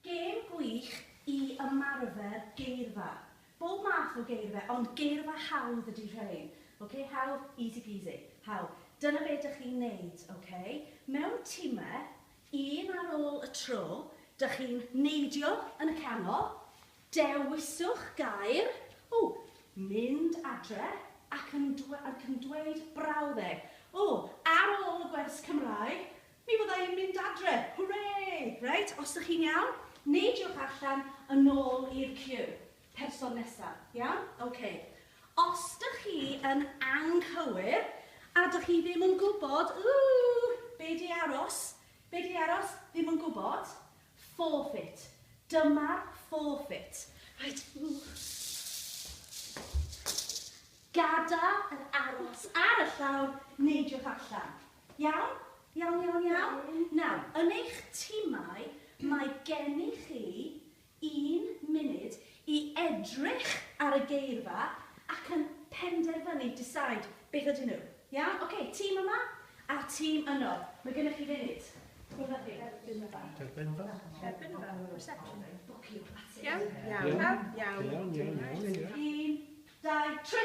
Gêm gwych i ymarfer geirfa. Bob math o geirfa, ond geirfa hawdd ydy rhein. Ok, hawdd, easy peasy. Hawdd. Dyna be dych chi'n neud, ok? Mewn time, un ar ôl y tro, dych chi'n neidio yn y canol, dewiswch gair, o, mynd adre, ac yn dweud brawddeg. O, ar ôl y gwers Cymraeg, Mi fydda i'n mynd adre! Hwrê! Reit, os dych chi'n iawn, neidiwch allan yn ôl i'r ciw. Person nesa. Iawn? Ok. Os dych chi yn anghywir a dych chi ddim yn gwybod, ooh, be di aros, be di aros, ddim yn gwybod, forfeit. Dyma'r forfeit. Reit, ooh. Gadael yr aros ar y llawr, neidiwch allan. Iawn? Iawn, iawn, iawn? Nawr, yn eich timau, mae gennych chi un munud i edrych ar y geirfa ac yn penderfynu, decide, beth ydyn nhw. Iawn? Ocê, tîm yma a'r tîm yno. Mae gennych chi funud. Rhywbeth i dderbyn y bag. Derbyn y bag. Derbyn y bag. Reception. Bwcio. Iawn? Iawn. Iawn. Iawn, iawn, iawn. Un, dau, tri.